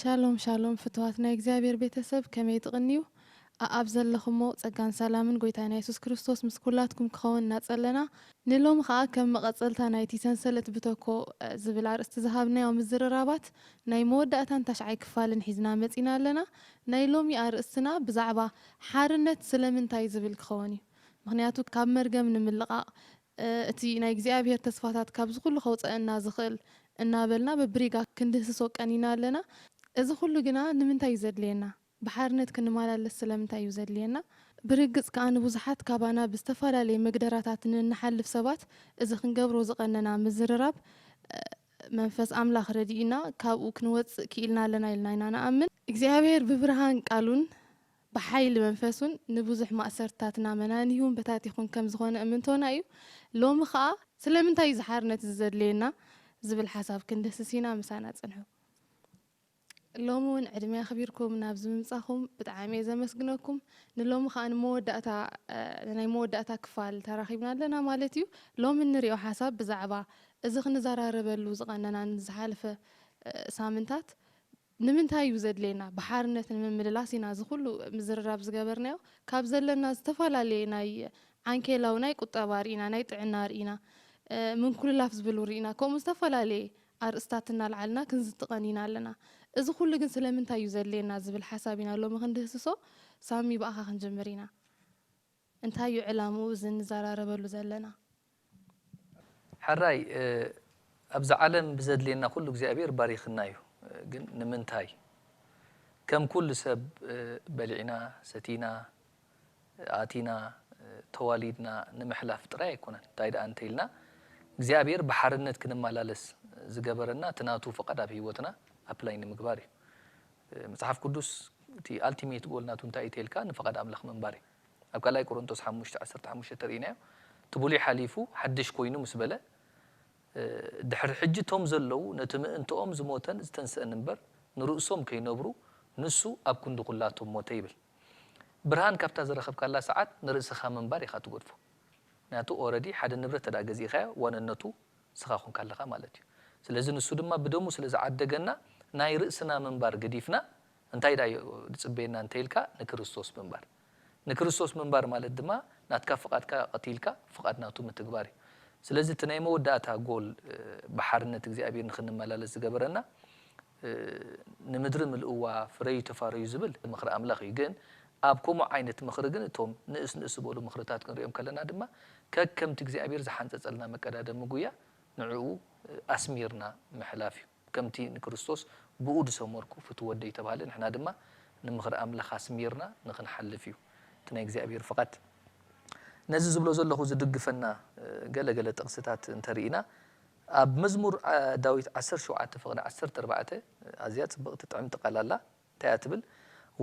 ሻሎም ሻሎም ፍትዋት ናይ እግዚኣብሔር ቤተሰብ ከመይ ትቅንዩ ኣኣብ ዘለኹሞ ጸጋን ሰላምን ጎይታና የሱስ ክርስቶስ ምስ ኩላትኩም ክኸውን እናጸለና ንሎሚ ከኣ ከም መቀጸልታ ናይቲ ሰንሰለት ብተኮ ዝብል ኣርእስቲ ዝሃብናዮ ምዝርራባት ናይ መወዳእታን ታሽዓይ ክፋልን ሒዝና መጺና ኣለና ናይ ሎሚ ኣርእስትና ብዛዕባ ሓርነት ስለምንታይ ዝብል ክኸወን እዩ ምኽንያቱ ካብ መርገም ንምልቃቅ እቲ ናይ እግዚኣብሔር ተስፋታት ካብዚ ኩሉ ከውጸእና ዝኽእል እናበልና በብሪጋ ክንድህስሶ ቀኒና ኣለና። እዚ ኩሉ ግና ንምንታይ እዩ ዘድልየና? ብሓርነት ክንማላለስ ስለምንታይ እዩ ዘድልየና? ብርግጽ ከኣ ንብዙሓት ካባና ብዝተፈላለየ መግደራታት ንእንሓልፍ ሰባት እዚ ክንገብሮ ዝቐነና ምዝርራብ መንፈስ ኣምላኽ ረዲኡና ካብኡ ክንወጽእ ክኢልና ኣለና ኢልና ኢና ንኣምን። እግዚኣብሔር ብብርሃን ቃሉን ብሓይሊ መንፈሱን ንብዙሕ ማእሰርትታትና መናኒሁን በታቲኹን ከም ዝኾነ እምንቶና እዩ። ሎሚ ኸኣ ስለምንታይ እዩ እዚ ሓርነት እዚ ዘድልየና ዝብል ሓሳብ ክንድህስስ ኢና። ምሳና ጽንሑ። ሎሚ እውን ዕድመ ኣኽቢርኩም ናብዚ ምምጻኹም ብጣዕሚ እየ ዘመስግነኩም። ንሎሚ ኸኣ ንመወዳእታ ናይ መወዳእታ ክፋል ተራኺብና ኣለና ማለት እዩ። ሎሚ እንሪኦ ሓሳብ ብዛዕባ እዚ ክንዘራረበሉ ዝቐነናን ዝሓለፈ ሳምንታት ንምንታይ እዩ ዘድልየና ብሓርነት ንምምልላስ ኢና እዚ ኩሉ ምዝርራብ ዝገበርናዮ ካብ ዘለና ዝተፈላለየ ናይ ዓንኬላዊ ናይ ቁጠባ ርኢና ናይ ጥዕና ርኢና ምንኩልላፍ ዝብል ውን ርኢና ከምኡ ዝተፈላለየ ኣርእስታት እናልዓልና ክንዝቲ ቀኒና ኣለና እዚ ኩሉ ግን ስለምንታይ እዩ ዘድልየና ዝብል ሓሳብ ኢና ሎሚ ክንድህስሶ ሳሚ ብኣኻ ክንጅምር ኢና። እንታይ እዩ ዕላምኡ እዚ እንዘራረበሉ ዘለና? ሕራይ ኣብዛ ዓለም ብዘድልየና ኩሉ እግዚኣብሔር ባሪኽና እዩ ግን ንምንታይ ከም ኩሉ ሰብ በሊዕና ሰቲና ኣእቲና ተዋሊድና ንምሕላፍ ጥራይ ኣይኮነን እንታይ ደኣ እንተኢልና እግዚኣብሔር ብሓርነት ክንመላለስ ዝገበረና እቲ ናቱ ፍቓድ ኣብ ህይወትና ኣፕላይ ንምግባር እዩ መጽሓፍ ቅዱስ እቲ ኣልቲሜት ጎል ናቱ እንታይ እዩ ተልካ ንፍቓድ ኣምላኽ ምንባር እዩ ኣብ ካልኣይ ቆሮንቶስ ሓሙሽተ ዓሰርተ ሓሙሽተ ርኢናዮ እቲ ብሉይ ሓሊፉ ሓድሽ ኮይኑ ምስ በለ ድሕሪ ሕጂ እቶም ዘለዉ ነቲ ምእንትኦም ዝሞተን ዝተንስእን እምበር ንርእሶም ከይነብሩ ንሱ ኣብ ክንዲ ኩላቶም ሞተ ይብል ብርሃን ካብታ ዝረኸብካላ ሰዓት ንርእስኻ ምንባር ኢኻ ትገድፎ ምክንያቱ ኦረዲ ሓደ ንብረት ተድኣ ገዚእካዮ ዋንነቱ ንስኻ ኮንካ ኣለኻ ማለት እዩ ስለዚ ንሱ ድማ ብደሙ ስለ ዝዓደገና ናይ ርእስና ምንባር ገዲፍና እንታይ ድኣ'ዩ ዝጽበየና እንተ ኢልካ፣ ንክርስቶስ ምንባር። ንክርስቶስ ምንባር ማለት ድማ ናትካ ፍቓድካ ቀቲልካ ፍቓድ ናቱ ምትግባር እዩ። ስለዚ እቲ ናይ መወዳእታ ጎል ብሓርነት እግዚኣብሄር ንክንመላለስ ዝገበረና ንምድሪ ምልእዋ ፍረዩ ተፋረዩ ዝብል ምኽሪ ኣምላኽ እዩ። ግን ኣብ ከምኡ ዓይነት ምኽሪ ግን እቶም ንእስ ንእስ ዝበሉ ምኽርታት ክንርእዮም ከለና ድማ ከከምቲ እግዚኣብሄር ዝሓንጸጸልና መቀዳደሚ ጉያ ንዕኡ ኣስሚርና ምሕላፍ እዩ። ከምቲ ንክርስቶስ ብእኡ ዝሰመርኩ ፍቱው ወደይ እተባህለ፣ ንሕና ድማ ንምኽሪ ኣምላኽ ኣስሚርና ንኽንሓልፍ እዩ እቲ ናይ እግዚኣብሄር ፍቓድ። ነዚ ዝብሎ ዘለኹ ዝድግፈና ገለ ገለ ጥቕስታት እንተ ርኢና፣ ኣብ መዝሙር ዳዊት ዓሰርተ ሸውዓተ ፍቕዲ ዓሰርተ ኣርባዕተ ኣዝያ ጽብቕቲ ጥዕምቲ ቃል ኣላ። እንታይ እያ ትብል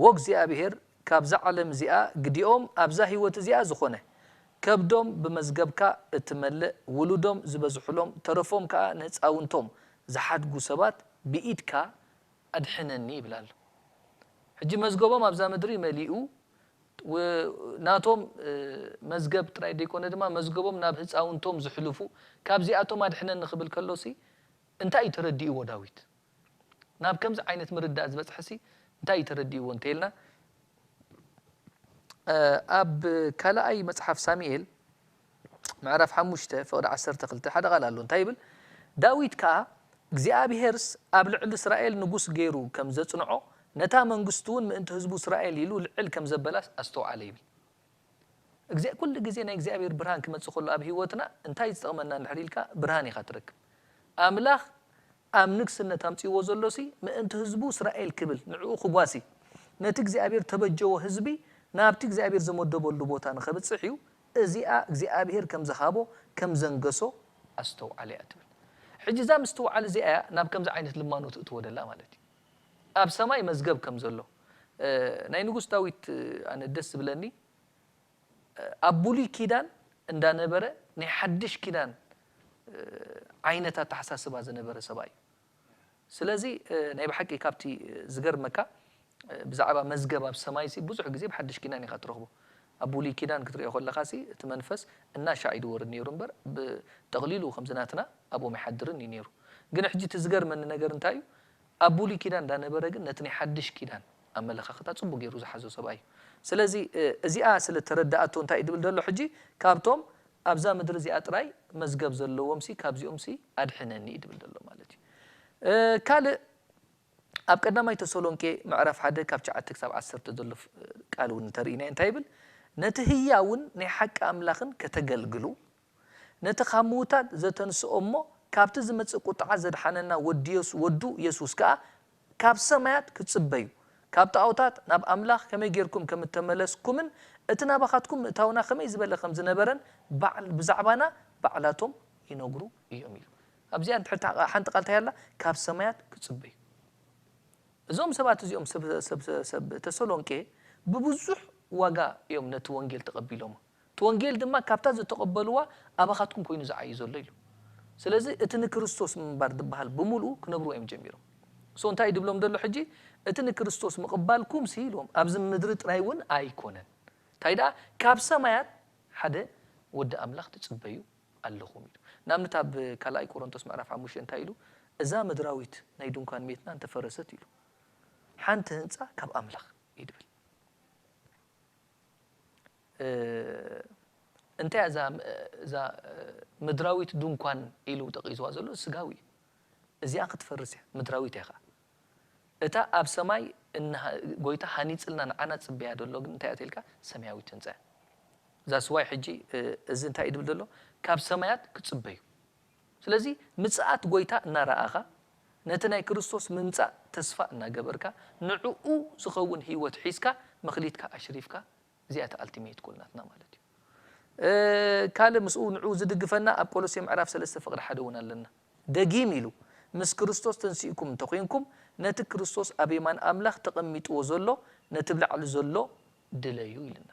ዎእግዚኣብሔር ካብዛ ዓለም እዚኣ ግዲኦም ኣብዛ ሕይወት እዚኣ ዝኾነ ከብዶም ብመዝገብካ እትመልእ ውሉዶም ዝበዝሑሎም ተረፎም ከኣ ንሕጻውንቶም ዝሓድጉ ሰባት ብኢድካ ኣድሕነኒ ይብል ኣሎ ሕጂ መዝገቦም ኣብዛ ምድሪ መሊኡ ብ ናቶም መዝገብ ጥራይ ደይኮነ ድማ መዝገቦም ናብ ህጻውንቶም ዝሕልፉ ካብዚኣቶም ኣድሕነኒ ክብል ከሎሲ እንታይ እዩ ተረዲእዎ ዳዊት። ናብ ከምዚ ዓይነት ምርዳእ ዝበጽሐሲ እንታይ እዩ ተረዲእዎ እንተይልና ኣብ ካልኣይ መጽሓፍ ሳሚኤል ምዕራፍ ሓሙሽተ ፍቕዲ ዓሰርተ ክልተ ሓደ ቓል ኣሎ እንታይ ይብል ዳዊት ከኣ እግዚኣብሄርስ ኣብ ልዕሊ እስራኤል ንጉስ ገይሩ ከም ዘጽንዖ ነታ መንግስቱውን ምእንቲ ህዝቡ እስራኤል ኢሉ ልዕል ከም ዘበላስ ኣስተውዓለ ይብል እግዚ ኩሉ ግዜ ናይ እግዚኣብሔር ብርሃን ክመጽእ ከሎ ኣብ ህይወትና እንታይ ዝጠቕመና እንድሕር ኢልካ ብርሃን ኢኻ ትረክብ ኣምላኽ ኣብ ንግስነት ኣምጺእዎ ዘሎሲ ምእንቲ ህዝቡ እስራኤል ክብል ንዕኡ ክጓሲ ነቲ እግዚኣብሄር እተበጀዎ ህዝቢ ናብቲ እግዚኣብሄር ዝመደበሉ ቦታ ንኸብጽሕ እዩ እዚኣ እግዚኣብሄር ከም ዝሃቦ ከም ዘንገሶ ኣስተውዓለ እያ ትብል ሕጂ እዛ ምስትውዓል እዚኣ እያ ናብ ከምዚ ዓይነት ልማኖ ትእትዎ ደላ ማለት እዩ ኣብ ሰማይ መዝገብ ከም ዘሎ ናይ ንጉስ ዳዊት ኣነ ደስ ዝብለኒ ኣብ ብሉይ ኪዳን እንዳነበረ ናይ ሓድሽ ኪዳን ዓይነት ኣተሓሳስባ ዝነበረ ሰብኣይ እዩ። ስለዚ ናይ ብሓቂ ካብቲ ዝገርመካ ብዛዕባ መዝገብ ኣብ ሰማይሲ ብዙሕ ግዜ ኣብ ሓድሽ ኪዳን ኢኻ ትረኽቦ። ኣብ ብሉይ ኪዳን ክትሪኦ ከለኻሲ እቲ መንፈስ እናሻዕ እዩ ዝወርድ ነይሩ እምበር ብጠቕሊሉ ከምዚ ናትና ኣብኦም ኣይሓድርን እዩ ነይሩ። ግን ሕጂ እቲ ዝገርመኒ ነገር እንታይ እዩ ኣብ ብሉይ ኪዳን እንዳነበረ ግን ነቲ ናይ ሓድሽ ኪዳን ኣመለኻኽታ ጽቡቅ ጌሩ ዝሓዞ ሰብኣይ እዩ ስለዚ እዚኣ ስለ ተረዳኣቶ እንታይ እዩ ድብል ደሎ ሕጂ ካብቶም ኣብዛ ምድሪ እዚኣ ጥራይ መዝገብ ዘለዎምሲ ካብዚኦምሲ ኣድሕነኒ እዩ ድብል ደሎ ማለት እዩ ካልእ ኣብ ቀዳማይ ተሰሎንቄ ምዕራፍ ሓደ ካብ ትሽዓተ ክሳብ ዓሰርተ ዘሎ ቃል እውን እንተርኢናዮ እንታይ ይብል ነቲ ህያውን ናይ ሓቂ ኣምላኽን ከተገልግሉ ነቲ ካብ ምዉታት ዘተንስኦ እሞ ካብቲ ዝመጽእ ቁጥዓ ዘድሓነና ወዲ ወዱ የሱስ ከኣ ካብ ሰማያት ክጽበዩ ካብ ጣኦታት ናብ ኣምላኽ ከመይ ጌርኩም ከም እተመለስኩምን እቲ ናባኻትኩም ምእታውና ከመይ ዝበለ ከም ዝነበረን ባዕ ብዛዕባና ባዕላቶም ይነግሩ እዮም ኢሉ ኣብዚኣ ንትሕቲ ሓንቲ ቃል እንታይ ኣላ ካብ ሰማያት ክጽበዩ እዞም ሰባት እዚኦም ሰብ ሰብ ሰብ ተሰሎንቄ ብብዙሕ ዋጋ እዮም ነቲ ወንጌል ተቐቢሎሞ እቲ ወንጌል ድማ ካብታ ዝተቐበልዋ ኣባኻትኩም ኮይኑ ዝዓዩ ዘሎ ኢሉ። ስለዚ እቲ ንክርስቶስ ምንባር ድበሃል ብምልኡ ክነብርዎ እዮም ጀሚሮም። እሶ እንታይ እዩ ድብሎም ደሎ ሕጂ እቲ ንክርስቶስ ምቕባልኩምሲ ኢልዎም ኣብዚ ምድሪ ጥራይ እውን ኣይኮነን እንታይ ደኣ ካብ ሰማያት ሓደ ወዲ ኣምላኽ ትጽበዩ ኣለኹም ኢሉ። ንኣብነት ኣብ ካልኣይ ቆሮንቶስ ምዕራፍ ሓሙሽተ እንታይ ኢሉ እዛ ምድራዊት ናይ ድንኳን ሜትና እንተ ፈረሰት ኢሉ ሓንቲ ህንጻ ካብ ኣምላኽ እዩ ድብል። እንታይ እያ እዛ እዛ ምድራዊት ድንኳን ኢሉ ጠቒስዋ ዘሎ? ስጋዊ እዩ። እዚኣ ክትፈርስ እያ፣ ምድራዊት እያ ኸኣ። እታ ኣብ ሰማይ እነ ጎይታ ሃኒጽልና ንዓና ዝጽበያ ዘሎ ግን እንታይ እያ ተልካ? ሰማያዊት ህንጻ እያ። That's why ሕጂ እዚ እንታይ እዩ ዝብል ዘሎ? ካብ ሰማያት ክጽበዩ። ስለዚ ምጽኣት ጎይታ እናረኣኻ፣ ነቲ ናይ ክርስቶስ ምምጻእ ተስፋ እናገበርካ፣ ንዕኡ ዝኸውን ህይወት ሒዝካ መክሊትካ ኣሽሪፍካ እዚኣ እታ ኣልቲመይት ጎል ናትና ማለት እዩ። ካልእ ምስኡ ንዕኡ ዝድግፈና ኣብ ቆሎሴ ምዕራፍ ሰለስተ ፍቕሪ ሓደ እውን ኣለና። ደጊም ኢሉ ምስ ክርስቶስ ተንሲእኩም እንተ ዄንኩም ነቲ ክርስቶስ ኣብ የማን ኣምላኽ ተቐሚጥዎ ዘሎ ነቲ ብ ላዕሊ ዘሎ ድለዩ ኢሉና።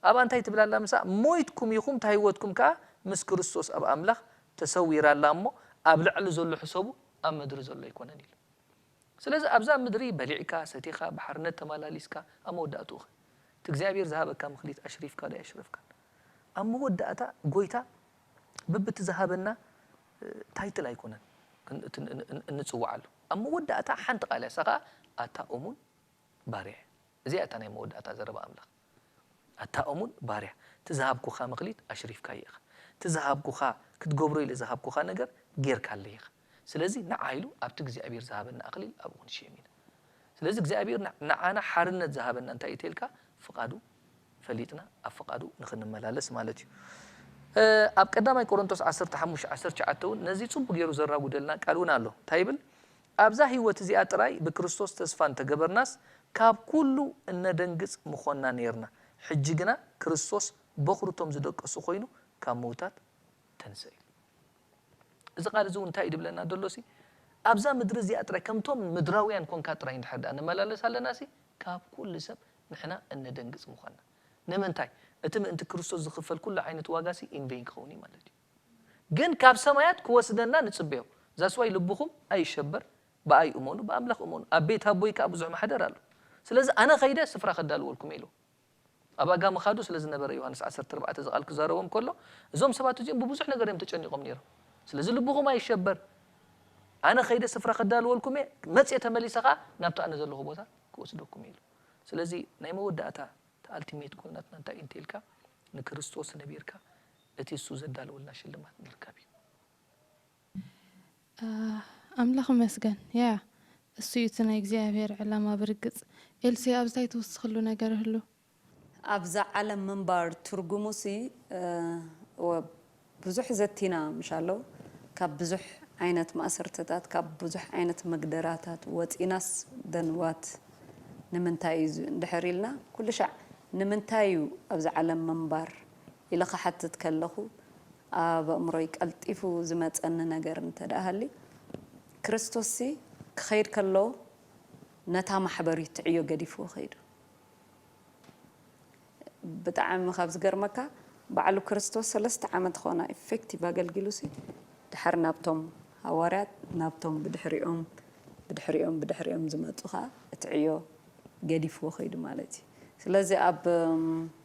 ኣብኣ እንታይ ትብል ኣላ ምስኣ ሞይትኩም ኢኹም እታ ህይወትኩም ከኣ ምስ ክርስቶስ ኣብ ኣምላኽ ተሰዊራ ኣላ እሞ ኣብ ላዕሊ ዘሎ ሕሰቡ ኣብ ምድሪ ዘሎ ኣይኮነን ኢሉ። ስለዚ ኣብዛ ምድሪ በሊዕካ ሰቲኻ ብሓርነት ተማላሊስካ ኣብ መወዳእትኡኸ እቲ እግዚኣብሄር ዝሃበካ ምክሊት ኣሽሪፍካ ዶ ኣየሽረፍካን ኣብ መወዳእታ ጎይታ ብብቲ ዝሃበና ታይትል ኣይኮነን እንጽዋዓሉ ኣብ መወዳእታ ሓንቲ ቃል እያ እሳ ከኣ ኣታ ኡሙን ባርያ እያ እዚኣ እያ እታ ናይ መወዳእታ ዘረባ ኣምላኽ ኣታ ኡሙን ባርያ እቲ ዝሃብኩኻ ምክሊት ኣሽሪፍካዮ ኢኻ እቲ ዝሃብኩኻ ክትገብሮ ኢለ ዝሃብኩኻ ነገር ጌርካለይ ኢኻ ስለዚ ንዓ ኢሉ ኣብቲ እግዚኣብሄር ዝሃበና ኣክሊል ኣብኡ ክንሽየም ኢና ስለዚ እግዚኣብሄር ንዓና ሓርነት ዝሃበና እንታይ እዩ ተልካ ፍቃዱ ፈሊጥና ኣብ ፍቃዱ ንክንመላለስ ማለት እዩ ኣብ ቀዳማይ ቆሮንቶስ ዓሰርተ ሓሙሽተ ዓሰርተ ትሽዓተ እውን ነዚ ጽቡቅ ገይሩ ዘራጉደልና ቃል እውን ኣሎ እንታይ ይብል ኣብዛ ህይወት እዚኣ ጥራይ ብክርስቶስ ተስፋ እንተገበርናስ ካብ ኩሉ እነደንግጽ ምኾንና ኔርና ሕጂ ግና ክርስቶስ በኩሪ እቶም ዝደቀሱ ኮይኑ ካብ ምውታት ተንሥእ ኢሉ። እዚ ቃል እዚ እውን እንታይ እዩ ዝብለና ዘሎሲ፣ ኣብዛ ምድሪ እዚኣ ጥራይ ከምቶም ምድራውያን ኰንካ ጥራይ እንድሕር ደኣ ንመላለስ ኣለናሲ፣ ካብ ኵሉ ሰብ ንሕና እነደንግጽ ምዃንና። ንምንታይ? እቲ ምእንቲ ክርስቶስ ዝኽፈል ኵሉ ዓይነት ዋጋሲ in vain ክኸውን እዩ ማለት እዩ። ግን ካብ ሰማያት ክወስደና ንጽበዮ። That's why ልብኹም ኣይሸበር፣ ብኣይ እመኑ፣ ብኣምላኽ እመኑ፣ ኣብ ቤት ኣቦይ ከኣ ብዙሕ ማሕደር ኣሎ። ስለዚ ኣነ ኸይደ ስፍራ ከዳልወልኩም እየ ኢልዎም። ኣብ ኣጋ ምኻዱ ስለ ዝነበረ ዮሃንስ ዓሰርተ ኣርባዕተ እዚ ቓል ክዛረቦም ከሎ እዞም ሰባት እዚኦም ብብዙሕ ነገር እዮም ተጨኒቖም ነይሮም ስለዚ ልብኹም ኣይሸበር ኣነ ከይደ ስፍራ ክዳልወልኩም እየ መጽየ ተመሊሰ ከኣ ናብቲ ኣነ ዘለኹ ቦታ ክወስደኩም እየ ኢሉ ስለዚ ናይ መወዳእታ እቲ ኣልቲሜት ጎል ናትና እንታይ እዩ እንተኢልካ ንክርስቶስ ነቢርካ እቲ እሱ ዘዳለወልና ሽልማት ምርካብ እዩ። ኣምላኽ ይመስገን ያያ እሱ እዩ እቲ ናይ እግዚኣብሔር ዕላማ ብርግጽ ኤልሴ ኣብዚ ታይ ትውስኽሉ ነገር እህሉ? ኣብዛ ዓለም ምንባር ትርጉሙሲ እወ ብዙሕ ዘቲና ምሽ ኣለው ካብ ብዙሕ ዓይነት ማእሰርትታት ካብ ብዙሕ ዓይነት መግደራታት ወጺናስ then what ንምንታይ እዩ እዚ እንድሕር ኢልና ኩልሻዕ ንምንታይ እዩ ኣብዛ ዓለም ምንባር ኢለ ክሓትት ከለኹ ኣብ ኣእምሮይ ቀልጢፉ ዝመጸኒ ነገር እንተድኣ ሃልዩ፣ ክርስቶስሲ ክኸይድ ከሎ ነታ ማሕበር እዩ ትዕዮ ገዲፍዎ ከይዱ። ብጣዕሚ ካብ ዝገርመካ ባዕሉ ክርስቶስ ሰለስተ ዓመት ኾና ኢፌክቲቭ ኣገልጊሉሲ ድሓር ናብቶም ሃዋርያት ናብቶም ብድሕሪኦም ብድሕሪኦም ብድሕሪኦም ዝመጹ ኸኣ እቲ ዕዮ ገዲፍዎ ከይዱ ማለት እዩ። ስለዚ ኣብ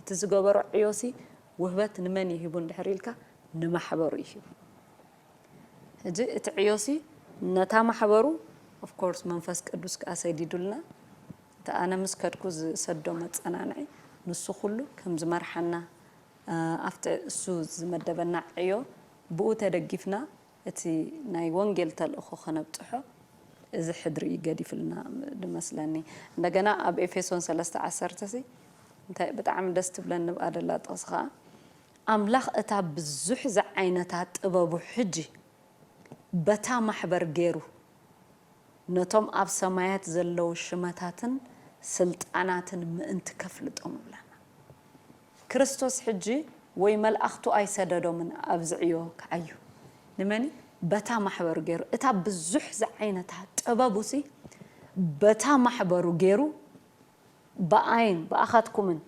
እቲ ዝገበሮ ዕዮሲ ውህበት ንመን እዩ ሂቡ እንድሕር ኢልካ ንማሕበሩ እዩ ሂቡ። ሕጂ እቲ ዕዮሲ ነታ ማሕበሩ of course መንፈስ ቅዱስ ከኣ ሰዲዱልና እቲ ኣነ ምስ ከድኩ ዝሰዶ መጸናንዒ ንሱ ኩሉ ከም ዝመርሓና ኣብቲ እሱ ዝመደበና ዕዮ ብኡ ተደጊፍና እቲ ናይ ወንጌል ተልእኾ ከነብጽሖ እዚ ሕድሪ እዩ ገዲፍልና ድመስለኒ እንደገና ኣብ ኤፌሶን ሰለስተ ዓሰርተ ሲ እንታይ ብጣዕሚ ደስ ትብለኒ ንብኣ ደላ ጥቕሲ ከኣ ኣምላኽ እታ ብዙሕ ዝዓይነታ ጥበቡ ሕጂ በታ ማሕበር ጌሩ ነቶም ኣብ ሰማያት ዘለዉ ሽመታትን ስልጣናትን ምእንቲ ከፍልጦም እብለና። ክርስቶስ ሕጂ ወይ መልኣኽቱ ኣይሰደዶምን ኣብዚ ዕዮ ክዓዩ። ንመን በታ ማሕበሩ ገሩ እታ ብዙሕ ዝዓይነታ ጥበቡሲ በታ ማሕበሩ ገሩ ብኣይን ብኣኻትኩምን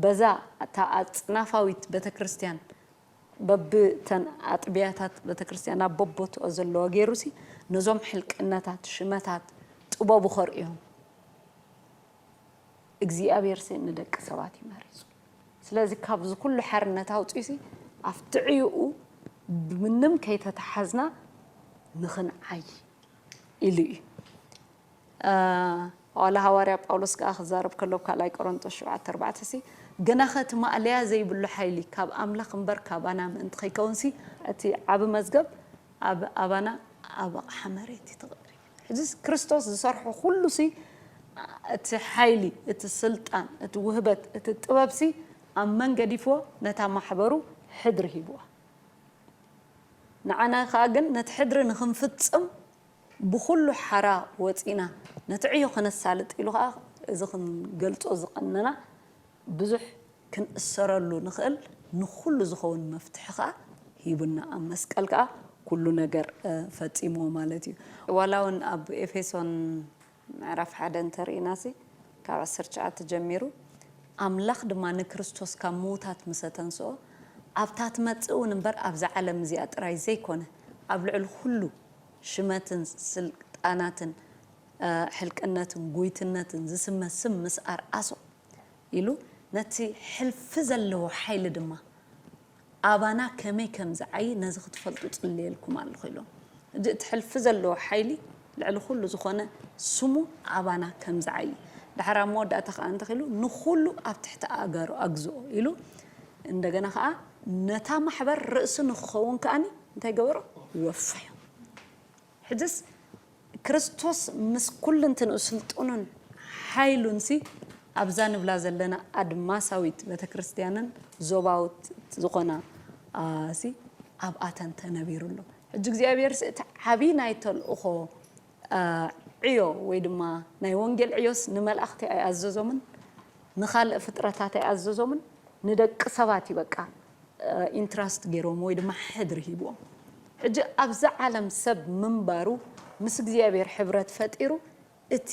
በዛ እታ ኣጽናፋዊት ቤተክርስትያን በቢ እተን ኣጥብያታት ቤተክርስትያን ኣብ በቦትኦ ዘለዋ ገሩሲ ነዞም ሕልቅነታት ሽመታት ጥበቡ ከርእዮም እግዚኣብሔርሲ ንደቂ ሰባት እዩ መሪፁ ስለዚ ካብዚ ኩሉ ሓርነት ኣውፂኡሲ ኣብቲ ዕዩኡ ብምንም ከይተታሓዝና ንክንዓይ ኢሉ እዩ ዋላ ሃዋርያ ጳውሎስ ከዓ ክዛረብ ከሎ ኣብ ካልኣይ ቆሮንጦስ ሸውዓተ ኣርባዕተሲ ግናኸ እቲ ማእለያ ዘይብሉ ሓይሊ ካብ ኣምላኽ እምበር ካባና ምእንቲ ከይከውንሲ እቲ ዓቢ መዝገብ ኣብ ኣባና ኣብ ኣቕሓ መሬት እዩ ተቐሪቡ። ሕዚስ ክርስቶስ ዝሰርሖ ዅሉሲ፣ እቲ ሓይሊ፣ እቲ ስልጣን፣ እቲ ውህበት፣ እቲ ጥበብሲ ኣብ መን ገዲፍዎ? ነታ ማሕበሩ ሕድሪ ሂብዋ። ንዓና ኸኣ ግን ነቲ ሕድሪ ንኽንፍጽም ብዅሉ ሓራ ወጺእና ነቲ ዕዮ ኸነሳልጥ ኢሉ ኸኣ እዚ ኽንገልጾ ዝቐነና ብዙሕ ክንእሰረሉ ንኽእል ንኹሉ ዝኸውን መፍትሒ ከኣ ሂቡና ኣብ መስቀል ከኣ ኩሉ ነገር ፈጺምዎ ማለት እዩ። ዋላ ውን ኣብ ኤፌሶን ምዕራፍ ሓደ እንተ ርኢናሲ ካብ ዓሰርተ ትሽዓተ ጀሚሩ ኣምላኽ ድማ ንክርስቶስ ካብ ምዉታት ምሰ ተንስኦ ኣብታ ትመጽእ ውን እምበር ኣብዛ ዓለም እዚኣ ጥራይ ዘይኮነ ኣብ ልዕሊ ኩሉ ሽመትን ስልጣናትን ሕልቅነትን ጉይትነትን ዝስመ ስም ምስ ኣርኣሶ ኢሉ ነቲ ሕልፊ ዘለዎ ሓይሊ ድማ ኣባና ከመይ ከም ዝዓዪ ነዚ ክትፈልጡ እጽልየልኩም ኣሎኹ ኢሎም። ሕጂ እቲ ሕልፊ ዘለዎ ሓይሊ ልዕሊ ኩሉ ዝኾነ ስሙ ኣባና ከም ዝዓዪ ድሓር ኣብ መወዳእታ ከኣ እንታይ ኢሉ ንኹሉ ኣብ ትሕቲ ኣእጋሩ ኣግዝኦ ኢሉ እንደገና ከኣ ነታ ማሕበር ርእሲ ንኽኸውን ከኣ እንታይ ገበሮ ወፈዮ። ሕጅስ ክርስቶስ ምስ ኩልንትንኡ ስልጡኑን ሓይሉንሲ ኣብዛ ንብላ ዘለና ኣድማሳዊት ቤተክርስትያንን ዞባውት ዝኾና ሲ ኣብኣተን ተነቢሩ ኣሎ። ሕጂ እግዚኣብሔርሲ እቲ ዓቢ ናይ ተልእኾ ዕዮ ወይ ድማ ናይ ወንጌል ዕዮስ ንመላእኽቲ ኣይኣዘዞምን ንኻልእ ፍጥረታት ኣይኣዘዞምን ንደቂ ሰባት እዩ በቃ ኢንትራስት ገይሮም ወይ ድማ ሕድሪ ሂብዎም ሕጂ ኣብዛ ዓለም ሰብ ምንባሩ ምስ እግዚኣብሔር ሕብረት ፈጢሩ እቲ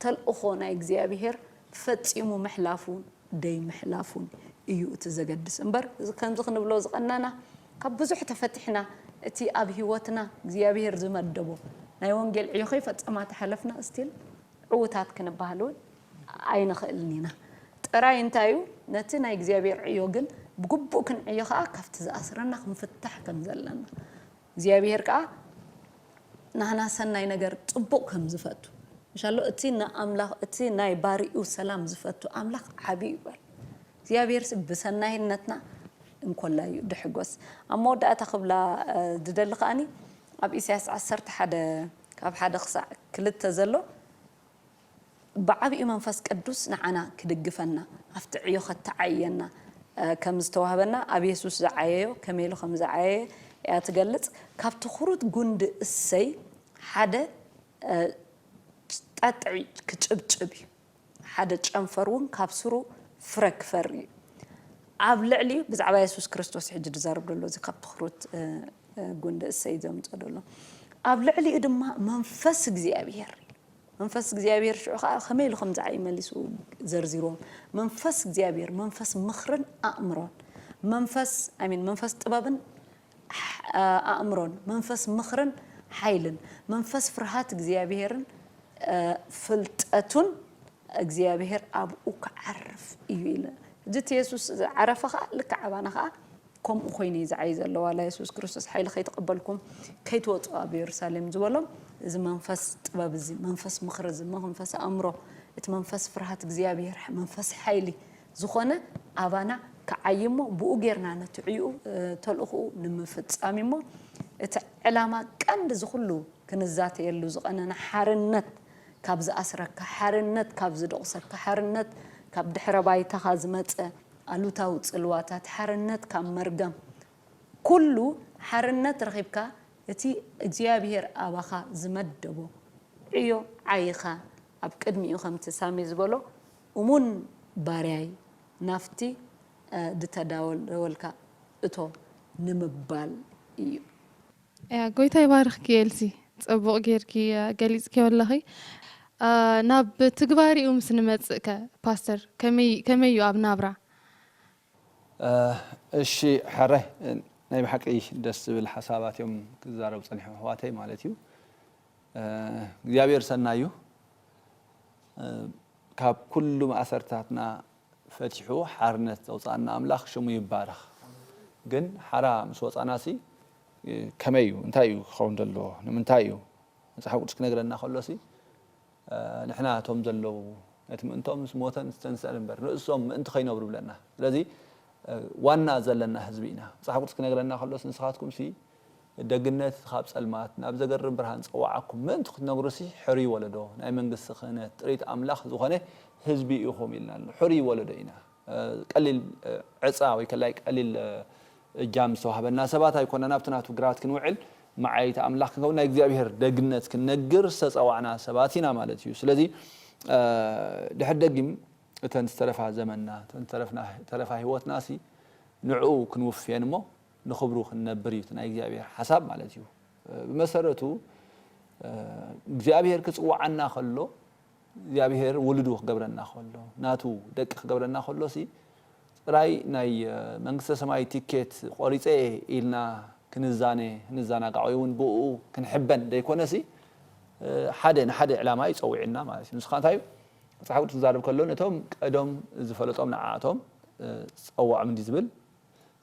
ተልእኾ ናይ እግዚኣብሔር ፈጺሙ ምሕላፉን ደይምሕላፉን እዩ እቲ ዘገድስ እምበር ከምዚ ክንብሎ ዝቀናና ካብ ብዙሕ ተፈቲሕና እቲ ኣብ ሂወትና እግዚኣብሔር ዝመደቦ ናይ ወንጌል ዕዮ ከይፈጸማ ተሓለፍና ስቲል ዕዉታት ክንበሃል እውን ኣይንኽእልን ኢና። ጥራይ እንታይ እዩ፣ ነቲ ናይ እግዚኣብሔር ዕዮ ግን ብግቡእ ክንዕዮ ከኣ ካብቲ ዝኣስረና ክንፍታሕ ከም ዘለና፣ እግዚኣብሔር ከኣ ናህና ሰናይ ነገር ጽቡቕ ከም ዝፈቱ ምሻሎ እቲ ንኣምላኽ እቲ ናይ ባርይኡ ሰላም ዝፈቱ ኣምላኽ ዓቢ እዩ በል። እግዚኣብሔርሲ ብሰናይነትና እንኮላይ እዩ ድሕጎስ። ኣብ መወዳእታ ክብላ ዝደሊ ከኣኒ ኣብ ኢሳያስ ዓሰርተ ሓደ ካብ ሓደ ክሳዕ ክልተ ዘሎ ብዓቢኡ መንፈስ ቅዱስ ንዓና ክድግፈና ኣብቲ ዕዮ ከተዓይየና ከም ዝተዋህበና ኣብ የሱስ ዝዓየዮ ከመይ ኢሉ ከም ዝዓየየ እያ ትገልጽ ካብ ትኩሩት ጉንዲ እሰይ ሓደ ጣጥዒ ክጭብጭብ እዩ። ሓደ ጨንፈር እውን ካብ ሱሩ ፍረ ክፈሪ እዩ። ኣብ ልዕሊ ብዛዕባ የሱስ ክርስቶስ ሕጂ ዝዛረብ ዘሎ እዚ ካብ ትኩርት ጉንዲ እሰይ ዘምጾ ዘሎ ኣብ ልዕሊኡ ድማ መንፈስ እግዚኣብሄር መንፈስ እግዚኣብሄር ሽዑ ከዓ ከመይ ኢሉ ከምዚ ዓይ መሊሱ ዘርዚሮም መንፈስ እግዚኣብሄር መንፈስ ምኽርን ኣእምሮን መንፈስ ኣሚን መንፈስ ጥበብን ኣእምሮን፣ መንፈስ ምኽርን ሓይልን፣ መንፈስ ፍርሃት እግዚኣብሄርን ፍልጠቱን እግዚኣብሄር ኣብኡ ክዓርፍ እዩ ኢለ። እዚ እቲ የሱስ ዝዓረፈ ኸኣ ልክዕ ኣባና ኸኣ ከምኡ ኮይኑ እዩ ዝዓዪ ዘሎ። ዋላ የሱስ ክርስቶስ ሓይሊ ከይተቐበልኩም ከይትወጹ ኣብ የሩሳሌም ዝበሎም እዚ መንፈስ ጥበብ እዚ፣ መንፈስ ምኽሪ እዚ፣ መንፈስ ኣእምሮ፣ እቲ መንፈስ ፍርሃት እግዚኣብሄር፣ መንፈስ ሓይሊ፣ ዝኾነ ኣባና ክዓዪ እሞ ብኡ ጌርና ነቲ ዕዩኡ ተልእኹኡ ንምፍጻም እዩ እሞ እቲ ዕላማ ቀንዲ እዚ ኩሉ ክንዛተየሉ ዝቐነና ሓርነት ካብ ዝኣስረካ፣ ሓርነት ካብ ዝድቑሰካ፣ ሓርነት ካብ ድሕረ ባይታኻ ዝመጸ ኣሉታዊ ጽልዋታት፣ ሓርነት ካብ መርገም ኩሉ ሓርነት ረኺብካ እቲ እግዚኣብሄር ኣባኻ ዝመደቦ ዕዮ ዓዪኻ ኣብ ቅድሚኡ ከምቲ ሳሚ ዝበሎ እሙን ባርያይ ናብቲ ድተዳለወልካ እቶ ንምባል እዩ። ጎይታ ይባርኽኪ ኤልሲ ጽቡቕ ጌርኪ ገሊጽክዮ ኣለኺ። ናብ ትግባሬኡ ምስ ንመጽእ ከ ፓስተር ከመይ ከመይ እዩ ኣብ ናብራ? እሺ ሕረ ናይ ብሓቂ ደስ ዝብል ሓሳባት እዮም ክዛረቡ ጸኒሖም ኣሕዋተይ ማለት እዩ እግዚኣብሔር ሰናይ እዩ። ካብ ኩሉ ማእሰርትታትና ፈቲሑ ሓርነት ዘውጻኣና ኣምላኽ ሽሙ ይባረኽ። ግን ሓራ ምስ ወጻናሲ ከመይ እዩ እንታይ እዩ ክኸውን ዘለዎ ንምንታይ እዩ መጽሓፍ ቅዱስ ክነግረና ከሎሲ ንሕና እቶም ዘለዉ ነቲ ምእንቶም ምስ ሞተን ዝተንስእን እምበር ንእሶም ምእንቲ ከይነብሩ ይብለና ስለዚ ዋና ዘለና ህዝቢ ኢና መጽሓፍ ቅዱስ ክነግረና ከሎሲ ንስኻትኩምሲ ደግነት ኻብ ጸልማት ናብ ዘገርም ብርሃን ጸዋዓኩም ምእንቲ ክትነግሩሲ ሕሩይ ወለዶ ናይ መንግስቲ ክህነት ጥሪት ኣምላኽ ዝኾነ ህዝቢ ኢኹም ኢልና ኣሎ ሕሩይ ወለዶ ኢና ቀሊል ዕጻ ወይ ከላይ ቀሊል እጃም ዝተዋህበና ሰባት ኣይኮናን ኣብቲ ናቱ ግራት ክንውዕል መዓይይቲ ኣምላኽ ክንከውን ናይ እግዚኣብሄር ደግነት ክንነግር ዝተጸዋዕና ሰባት ኢና ማለት እዩ ስለዚ ድሕሪ ደጊም እተን ዝተረፋ ዘመንና እተን ዝተረፍና ተረፋ ህይወትናሲ ንዕኡ ክንውፍየን እሞ ንኽብሩ ክንነብር እዩ እቲ ናይ እግዚኣብሄር ሓሳብ ማለት እዩ። ብመሰረቱ እግዚኣብሄር ክጽውዓና ከሎ እግዚኣብሄር ውሉዱ ክገብረና ከሎ ናቱ ደቂ ክገብረና ከሎሲ ጥራይ ናይ መንግስተ ሰማይ ቲኬት ቆሪጸ እየ ኢልና ክንዛነ ክንዛናጋዕ ወይ ውን ብእኡ ክንሕበን ዘይኮነሲ ሓደ ንሓደ ዕላማ እዩ ጸዊዑና ማለት እዩ። ንሱ ከኣ እንታይ እዩ መጽሓፍ ቅዱስ ክዛረብ ከሎ ነቶም ቀዶም ዝፈለጦም ንዓኣቶም ጸውዖም እንዲዩ ዝብል።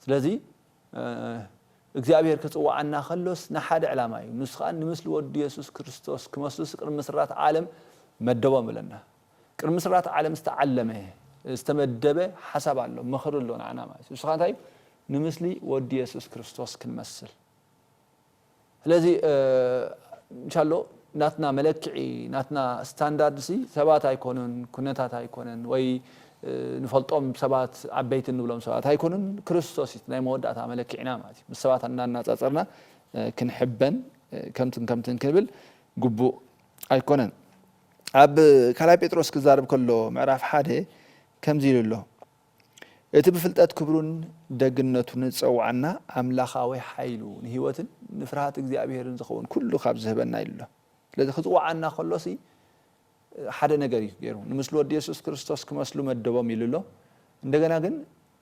ስለዚ እግዚኣብሄር ክጽውዓና ከሎስ ንሓደ ዕላማ እዩ ንሱ ከኣ ንምስሊ ወዱ የሱስ ክርስቶስ ክመስሉስ ቅድሚ ምስራት ዓለም መደቦም እለና ቅድሚ ምስራት ዓለም ዝተዓለመ ዝተመደበ ሓሳብ ኣሎ ምኽሪ ኣሎ ንዓና ማለት እዩ ንሱ ከኣ እንታይ እዩ ንምስሊ ወዱ የሱስ ክርስቶስ ክንመስል ስለዚ ቻሎ ናትና መለክዒ ናትና ስታንዳርድ ሲ ሰባት ኣይኮኑን ኩነታት ኣይኮነን ወይ ንፈልጦም ሰባት ዓበይቲ እንብሎም ሰባት ኣይኮኑን ክርስቶስ እዩ ናይ መወዳእታ መለክዒና ማለት እዩ ምስ ሰባት እናናጻጸርና ክንሕበን ከምትን ከምትን ክንብል ግቡእ ኣይኮነን ኣብ ካልኣይ ጴጥሮስ ክዛረብ ከሎ ምዕራፍ ሓደ ከምዚ ኢሉ ኣሎ እቲ ብፍልጠት ክብሩን ደግነቱን ዝጸውዓና ኣምላኻዊ ሓይሉ፣ ንህይወትን ንፍርሃት እግዚኣብሄርን ዝኸውን ኩሉ ካብ ዝህበና ኢሉ ኣሎ። ስለዚ ክጽውዓና ከሎሲ ሓደ ነገር እዩ ገይሩ። ንምስሉ ወዲ የሱስ ክርስቶስ ክመስሉ መደቦም ኢሉ ኣሎ። እንደገና ግን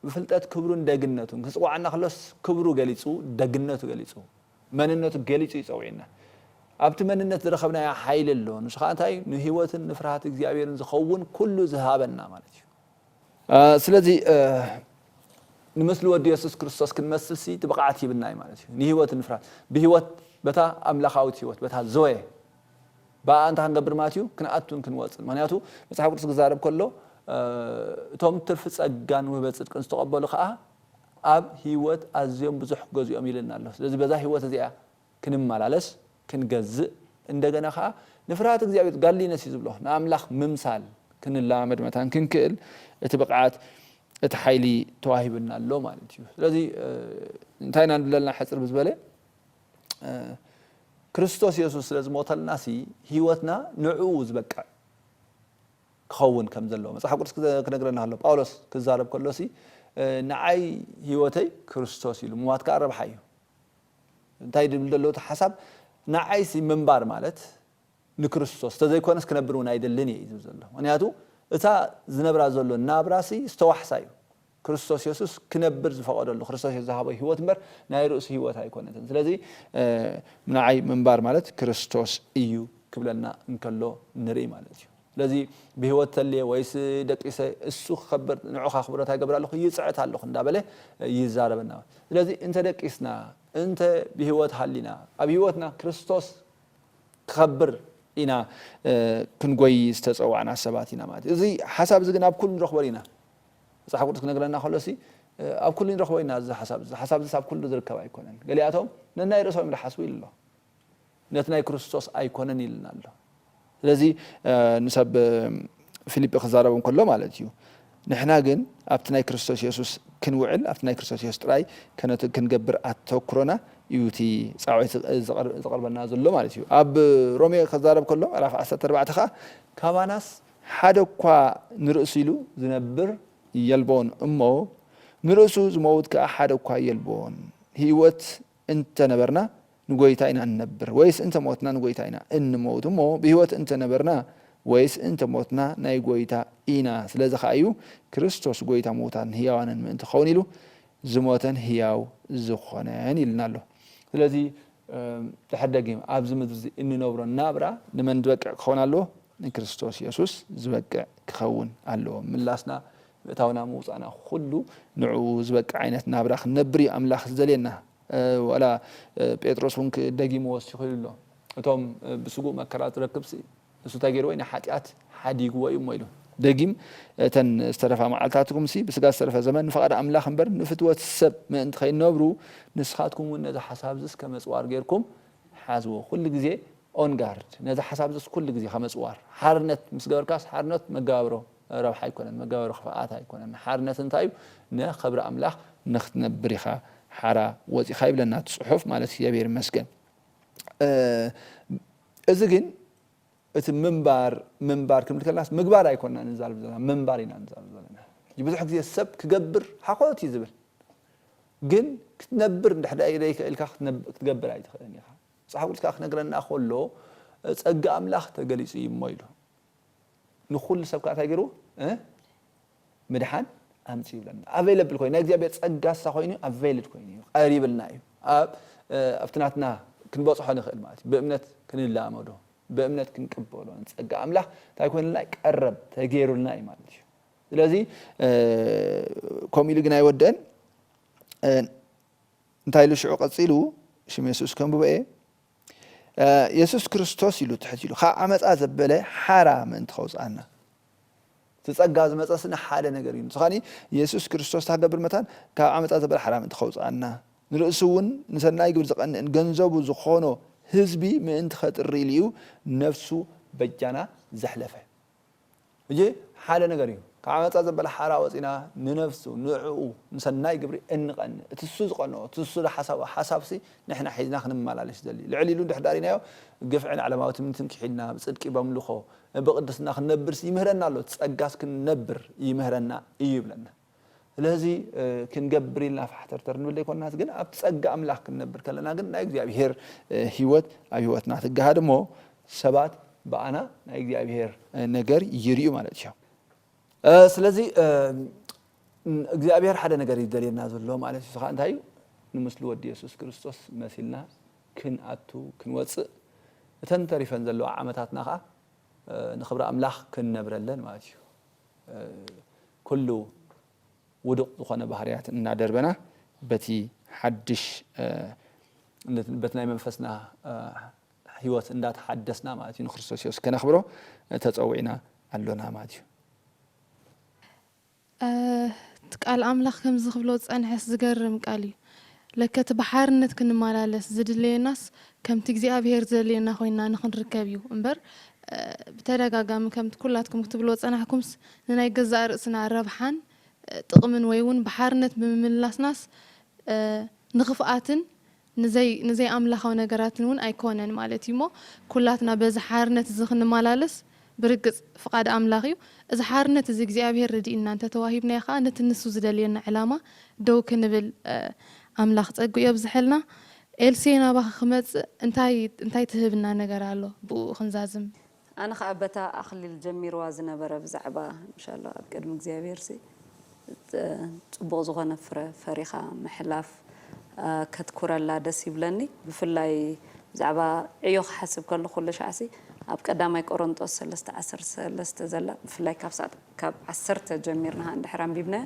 ብፍልጠት ክብሩን ደግነቱን፣ ክጽውዓና ከሎስ ክብሩ ገሊጹ፣ ደግነቱ ገሊጹ፣ መንነቱ ገሊጹ እዩ ጸዊዕና። ኣብቲ መንነት ዝረኸብናዮ ሓይሊ ኣሎ። ንሱ ከኣ እንታይ እዩ? ንህይወትን ንፍርሃት እግዚኣብሄርን ዝኸውን ኩሉ ዝሃበና ማለት እዩ። ስለዚ ንምስሊ ወዱ የሱስ ክርስቶስ ክንመስልሲ እቲ ብቕዓት ሂብና እዩ ማለት እዩ። ንህይወት እንፍራት ብህይወት በታ ኣምላኻዊት ህይወት በታ ዞየ ብኣኣ እንታይ ክንገብር ማለት እዩ ክንኣቱን ክንወጽን ምኽንያቱ መጽሓፍ ቅዱስ ክዛረብ ከሎ እቶም ትርፊ ጸጋን ውህበት ጽድቅን ዝተቐበሉ ከኣ ኣብ ህይወት ኣዝዮም ብዙሕ ክገዝኡዮም ይብለና ኣሎ። ስለዚ በዛ ህይወት እዚኣ ክንመላለስ፣ ክንገዝእ፣ እንደገና ከኣ ንፍርሃት እግዚኣብሄር፣ ጋድሊነስ እዩ ዝብሎ፣ ንኣምላኽ ምምሳል ክንለማመድ መታን ክንክእል እቲ ብቕዓት፣ እቲ ሓይሊ ተዋሂቡና ኣሎ ማለት እዩ። ስለዚ እንታይ ኢና ንብለልና ሕጽር ብዝበለ ክርስቶስ የሱስ ስለ ዝሞተልናሲ ህይወትና ንዕኡ ዝበቅዕ ክኸውን ከም ዘለዎ መጽሓፍ ቅዱስ ክነግረና ከሎ ጳውሎስ ክዛረብ ከሎሲ ንዓይ ህይወተይ ክርስቶስ ኢሉ ምዋት ከኣ ረብሓ እዩ። እንታይ ድብል ደሎ እቲ ሓሳብ ንዓይሲ ምንባር ማለት ንክርስቶስ ተዘይኮነስ ክነብር ውን ኣይደልን እየ እዩ ዝብል ዘሎ ምክንያቱ እታ ዝነብራ ዘሎ ናብራሲ ዝተዋሕሳ እዩ ክርስቶስ የሱስ ክነብር ዝፈቀደሉ ክርስቶስ የሱስ ዝሃቦ ሂወት እምበር ናይ ርእሱ ሂወት ኣይኮነትን ስለዚ ንዓይ ምንባር ማለት ክርስቶስ እዩ ክብለና እንከሎ ንርኢ ማለት እዩ። ስለዚ ብህይወት ተልየ ወይስ ደቂሰ እሱ ክከብር ንዑ ካክብሮ ታይ ገብር ኣለኩ ይጽዕት ኣለኩ እንዳበለ ይዛረበና ስለዚ እንተ ደቂስና እንተ ብህይወት ሃሊና ኣብ ህይወትና ክርስቶስ ክከብር ኢና ክንጎይ ዝተጸዋዕና ሰባት ኢና ማለት እዩ እዚ ሓሳብ እዚ ግን ኣብ ኩሉ ንረክቦ ዲና መጽሓፍ ቅዱስ ክነግረና ከሎ ሲ ኣብ ኩሉ ንረክቦ ኢና እዚ ሓሳብ እዚ ሓሳብ እዚ ኣብ ኩሉ ዝርከብ ኣይኮነን ገሊኣቶም ነናይ ርእሶም እዮም ዝሓስቡ ኢሉ ኣሎ ነቲ ናይ ክርስቶስ ኣይኮነን ኢልና ኣሎ። ስለዚ ንሰብ ፊሊጲ ክዛረቦም ከሎ ማለት እዩ ንሕና ግን ኣብቲ ናይ ክርስቶስ የሱስ ክንውዕል ኣብቲ ናይ ክርስቶስ የሱስ ጥራይ ከነቱ ክንገብር ኣተኩሮና እዩ እቲ ጻውዒት ዝቐርበልና ዘሎ ማለት እዩ። ኣብ ሮሜ ክዛረብ ከሎ ምዕራፍ ዓሰርተ ኣርባዕተ ከኣ ካባናስ ሓደ እኳ ንርእሱ ኢሉ ዝነብር የልቦን እሞ ንርእሱ ዝመውት ከኣ ሓደ እኳ የልቦን ህይወት እንተ ነበርና ንጐይታ ኢና እንነብር ወይስ እንተ ሞትና ንጐይታ ኢና እንመውት እሞ ብሕይወት እንተ ነበርና ወይስ እንተ ሞትና ናይ ጐይታ ኢና ስለዚ ኸኣ እዩ ክርስቶስ ጐይታ ምዉታትን ሕያዋንን ምእንቲ ክኸውን ኢሉ ዝሞተን ሕያው ዝኾነን ኢሉና ኣሎ ስለዚ ድሕሪ ደጊም ኣብዚ ምድሪ እዚ እንነብሮ ናብራ ንመን ዝበቅዕ ክኸውን ኣለዎ ንክርስቶስ የሱስ ዝበቅዕ ክኸውን ኣለዎ ምላስና ምእታውና ምውጻእና ኩሉ ንዕኡ ዝበቅዕ ዓይነት ናብራ ክንነብር እዩ ኣምላኽ ዝደልየና። ዋላ ጴጥሮስ እውን ደጊሙ ወሲኹ ኢሉ ኣሎ፣ እቶም ብስግኡ መከራ ዝረክብሲ ንሱ እንታይ ገይርዎ እዩ? ንሓጢኣት ሓዲግዎ እዩ እሞ ኢሉ። ደጊም እተን ዝተረፋ መዓልትታትኩምሲ ብስጋ ዝተረፈ ዘመን ንፍቓድ ኣምላኽ እምበር ንፍትወት ሰብ ምእንቲ ከይነብሩ ንስኻትኩም እውን ነዚ ሓሳብ እዝስ ከም ኣጽዋር ገይርኩም ሓዝዎ። ኩሉ ግዜ ኦን ጋርድ ነዚ ሓሳብ እዝስ ኩሉ ግዜ ከም ኣጽዋር። ሓርነት ምስ ገበርካስ ሓርነት መጋብሮ። ረብሓ ኣይኮነን መጋበሪ ክፍኣት ኣይኮነን ሓርነት እንታይ እዩ ን ኸብሪ ኣምላኽ ንክትነብር ኢኻ ሓራ ወጺኻ ይብለና እቲ ጽሑፍ ማለት እግዚኣብሔር ይመስገን እዚ ግን እቲ ምንባር ምንባር ክንብል ከለናስ ምግባር ኣይኮንና ንዛረብ ዘለና ምንባር ኢና ንዛረብ ዘለና ሕጂ ብዙሕ ግዜ ሰብ ክገብር ሓኾት እዩ ዝብል ግን ክትነብር እንድሕር ዘይክእልካ ክትገብር ኣይትኽእልን ኢኻ መጽሓፍ ቅዱስ ክኣ ክነግረና ከሎ ጸጋ ኣምላኽ ተገሊጹ እዩ እሞ ኢሉ ንኹሉ ሰብ ከኣ እንታይ ገይርዎ እ ምድሓን ኣምጺኡ ይብለና ኣቬለብል ኮይኑ ናይ እግዚኣብሔር ጸጋ ሳ ኮይኑ ኣቬልድ ኮይኑ እዩ ቀሪብልና እዩ ኣብ ኣብቲ ናትና ክንበጽሖ ንኽእል ማለት እዩ ብእምነት ክንላመዶ ብእምነት ክንቅበሎ ንጸጋ ኣምላኽ እንታይ ኮይኑልና እዩ ቀረብ ተገይሩልና እዩ ማለት እዩ ስለዚ ከምኡ ኢሉ ግን ኣይወድእን እንታይ ኢሉ ሽዑ ቀጺሉ ሽም የሱስ ከንብቦ እየ የሱስ ክርስቶስ ኢሉ ትሕት ኢሉ ካብ ዓመጻ ዘበለ ሓራ ምእንቲ ከውጽኣና እቲ ጸጋ ዝመጸስ ንሓደ ነገር እዩ ንሱ ካኣ የሱስ ክርስቶስ ታገብር መታን ካብ ዓመጻ ዘበለ ሓራ ምእንቲ ከውጽኣና ንርእሱ እውን ንሰናይ ግብር ዝቀንእን ገንዘቡ ዝኾኖ ህዝቢ ምእንቲ ከጥሪ ኢሉ እዩ ነፍሱ በጃና ዘሕለፈ ሕጂ ሓደ ነገር እዩ ካብ ዓመጻ ዘበለ ሓራ ወጺና ንነብሱ ንዕኡ ንሰናይ ግብሪ እንቀንእ እቲ እሱ ዝቀንኦ እቲ እሱ ዝሓሳቦ ሓሳብሲ ንሕና ሒዝና ክንመላለሽ ዘሊ ልዕል ኢሉ እንድሕር ዳሪናዮ ግፍዕን ዓለማዊ ትምኒትን ኪሒድና ብጽድቂ በምልኾ ብቅድስና ክንነብርሲ ይምህረና ኣሎ እቲ ጸጋስ ክንነብር ይምህረና እዩ ይብለና ስለዚ ክንገብር ኢልና ፋሕተርተር ንብል ዘይኮናስ ግን ኣብቲ ጸጋ ኣምላኽ ክንነብር ከለና ግን ናይ እግዚኣብሄር ህይወት ኣብ ህይወትና ትገሃድ እሞ ሰባት ብኣና ናይ እግዚኣብሄር ነገር ይርእዩ ማለት እዩ። ስለዚ እግዚኣብሄር ሓደ ነገር እዩ ዝደልየና ዘሎ ማለት እዩ። እዚ ከኣ እንታይ እዩ? ንምስሉ ወዲ የሱስ ክርስቶስ መሲልና ክንኣቱ ክንወጽእ እተን ተሪፈን ዘለዋ ዓመታትና ከኣ ንኽብሪ ኣምላኽ ክንነብረለን ማለት እዩ። ኩሉ ውዱቕ ዝኾነ ባህርያት እናደርበና በቲ ሓድሽ በቲ ናይ መንፈስና ሕይወት እንዳተሓደስና ማለት እዩ ንክርስቶስ የሱስ ከነኽብሮ ተጸዊዕና ኣሎና ማለት እዩ። እቲ ቃል ኣምላኽ ከምዚ ክብሎ ዝጸንሐስ ዝገርም ቃል እዩ ለከ እቲ ብሓርነት ክንመላለስ ዝድለየናስ ከምቲ እግዚኣብሄር ዝደልየና ኮይንና ንኽንርከብ እዩ እምበር ብተደጋጋሚ ከምቲ ኩላትኩም ክትብልዎ ዝጸናሕኩምስ ንናይ ገዛእ ርእስና ረብሓን ጥቕምን ወይ እውን ብሓርነት ብምምልላስናስ ንኽፍኣትን ንዘይ ኣምላኻዊ ነገራትን እውን ኣይኮነን ማለት እዩ እሞ ኩላትና በዚ ሓርነት እዚ ክንመላለስ ብርግጽ ፍቓድ ኣምላኽ እዩ። እዚ ሓርነት እዚ እግዚኣብሔር ረዲእና እንተ ተዋሂብናዮ ከኣ ነቲ ንሱ ዝደልየና ዕላማ ደው ክንብል ኣምላኽ ጸግኡ የብዝሐልና። ኤልሴ ናባኺ ክመጽእ እንታይ እንታይ ትህብና ነገር ኣሎ ብእኡ ክንዛዝም? ኣነ ከኣ በታ ኣክሊል ጀሚርዋ ዝነበረ ብዛዕባ እንሻላ ኣብ ቅድሚ እግዚኣብሄርሲ ጽቡቅ ዝኮነ ፍረ ፈሪካ ምሕላፍ ከትኩረላ ደስ ይብለኒ ብፍላይ ብዛዕባ ዕዮ ክሓስብ ከለኩ ኩለሻዕሲ ኣብ ቀዳማይ ቆሮንጦስ ሰለስተ ዓሰርተ ሰለስተ ዘላ ብፍላይ ካብ ሳዕ ካብ ዓሰርተ ጀሚርና ከኣ እንድሕር ኣንቢብናያ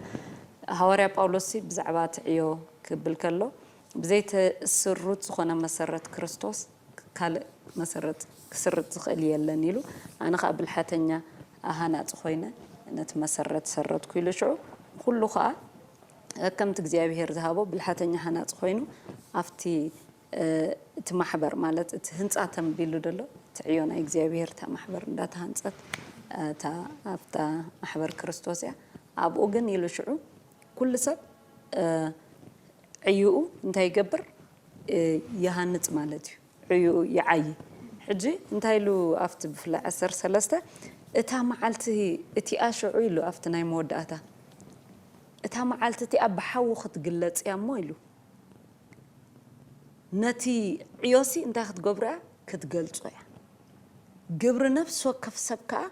ሃዋርያ ጳውሎስሲ ብዛዕባ እቲ ዕዮ ክብል ከሎ ብዘይተስሩት ዝኾነ መሰረት ክርስቶስ ካልእ መሰረት ክስርት ዝኽእል የለን ኢሉ ኣነ ኸኣ ብልሓተኛ ሃናጺ ኾይነ ነቲ መሰረት ሰረትኩ ኢሉ ሽዑ ንኹሉ ኸኣ ከከምቲ እግዚኣብሄር ዝሃቦ ብልሓተኛ ሃናጺ ኾይኑ ኣብቲ እቲ ማሕበር ማለት እቲ ህንጻ ተንቢሉ ደሎ እቲ ዕዮ ናይ እግዚኣብሄር እታ ማሕበር እንዳተሃንጸት እታ ኣብታ ማሕበር ክርስቶስ እያ ኣብኡ ግን ኢሉ ሽዑ ኩሉ ሰብ ዕዩኡ እንታይ ይገብር ይሃንጽ ማለት እዩ ዕዩኡ ይዓዪ ሕጂ እንታይ ኢሉ ኣብቲ ብፍላይ ዓሰርተ ሰለስተ እታ መዓልቲ እቲኣ ሽዑ ኢሉ ኣብቲ ናይ መወዳእታ እታ መዓልቲ እቲኣ ብሓዊ ክትግለጽ እያ እሞ ኢሉ ነቲ ዕዮሲ እንታይ ክትገብሮ እያ ክትገልጾ እያ ግብሪ ነፍሲ ወከፍ ሰብ ከኣ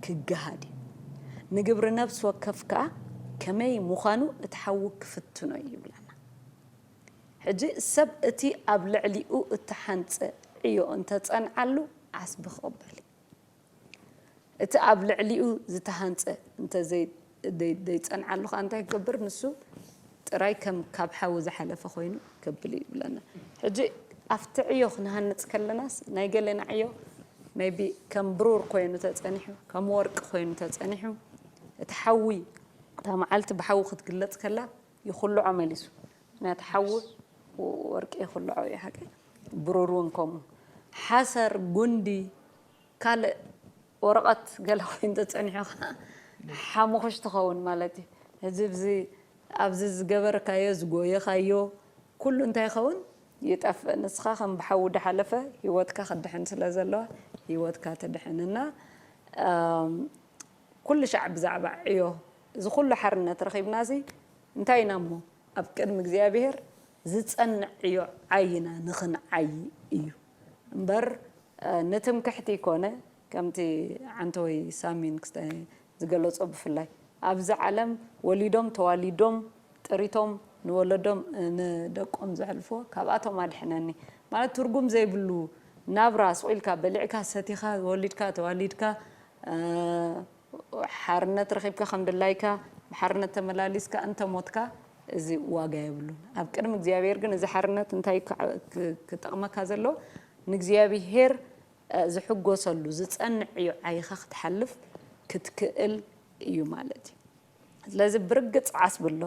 ክገሃድ እዩ። ንግብሪ ነፍሲ ወከፍ ከኣ ከመይ ምዃኑ እቲ ሓዉ ክፍትኖ እዩ ይብለና። ሕጂ ሰብ እቲ ኣብ ልዕሊኡ እተሓንጸ ዕዮ እንተ ጸንዓሉ ዓስቢ ክቕበል እዩ። እቲ ኣብ ልዕሊኡ ዝተሃንጸ እንተ ዘይጸንዓ ዘይጸንዓሉ ከኣ እንታይ ክገብር ንሱ ጥራይ ከም ካብ ሓዊ ዝሓለፈ ኮይኑ ከብል እዩ ይብለና ሕጂ ኣብቲ ዕዮ ክንሃንጽ ከለናስ ናይ ገሌና ዕዮ ሜይቢ ከም ብሩር ኮይኑ ተጸኒሑ ከም ወርቂ ኮይኑ ተጸኒሑ እቲ ሓዊ እታ መዓልቲ ብሓዊ ክትግለጽ ከላ ይኹልዖ መሊሱ ምክንያቱ ሓዊ ወርቂ ይኹልዖ እዩ ሓቂ ብሩር እውን ከምኡ ሓሰር ጉንዲ ካልእ ወረቀት ገለ ኮይኑ ተጸኒሑ ከኣ ሓሙኹሽ ትኸውን ማለት እዩ። ሕዚ ብዚ ኣብዚ ዝገበርካዮ ዝጎየኻዮ ኩሉ እንታይ ይኸውን ይጠፍእ ንስኻ ከም ብሓዊ ዳሓለፈ ሂወትካ ክድሕን ስለ ዘለዋ ሂወትካ ትድሕን እና ኩልሻዕ ብዛዕባ ዕዮ እዚ ኩሉ ሓርነት ረኺብናሲ እንታይ ኢና እሞ ኣብ ቅድሚ እግዚኣብሄር ዝጸንዕ ዕዮ ዓይና ንኽንዓዪ እዩ። እምበር ንትምክሕቲ ኮነ ከምቲ ዓንተወይ ሳሚን ክስታይ ዝገለጾ ብፍላይ ኣብዚ ዓለም ወሊዶም ተዋሊዶም ጥሪቶም ንወለዶም ንደቆም ዘሕልፍዎ ካብኣቶም ኣድሕነኒ ማለት ትርጉም ዘይብሉ ናብራ ስቁኢልካ በሊዕካ ሰቲካ ወሊድካ ተዋሊድካ ሓርነት ረኺብካ ከም ድላይካ ብሓርነት ተመላሊስካ እንተ ሞትካ እዚ ዋጋ የብሉን። ኣብ ቅድሚ እግዚኣብሄር ግን እዚ ሓርነት እንታይ እዩ ክጠቕመካ ዘሎ ንእግዚኣብሄር ዝሕጎሰሉ ዝጸንዕ እዩ ዓይኻ ክትሓልፍ ክትክእል እዩ ማለት እዩ። ስለዚ ብርግጽ ዓስ ብሎ፣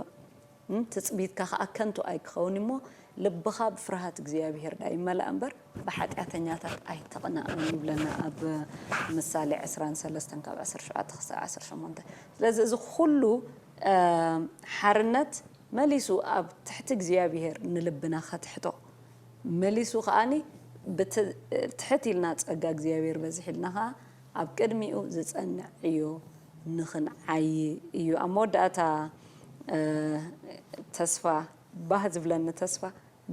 ትጽቢትካ ከኣ ከንቱ ኣይክኸውን'ዩ እሞ፣ ልብኻ ብፍርሃት እግዚኣብሄር ደኣ ይመላእ እምበር፣ ብሓጢኣተኛታት ኣይትቕናእ ይብለና ኣብ ምሳሌ ዕስራን ሰለስተን ካብ ዓሰርተ ሸውዓተ ክሳዕ ዓሰርተ ሸሞንተ። ስለዚ እዚ ኩሉ ሓርነት መሊሱ ኣብ ትሕቲ እግዚኣብሄር ንልብና ከትሕቶ፣ መሊሱ ከኣ ብቲ ትሕት ኢልና ጸጋ እግዚኣብሄር በዚሒልና ከኣ ኣብ ቅድሚኡ ዝጸንዕ ዕዮ ንኽንዓዪ እዩ። ኣብ መወዳእታ ተስፋ ባህ ዝብለኒ ተስፋ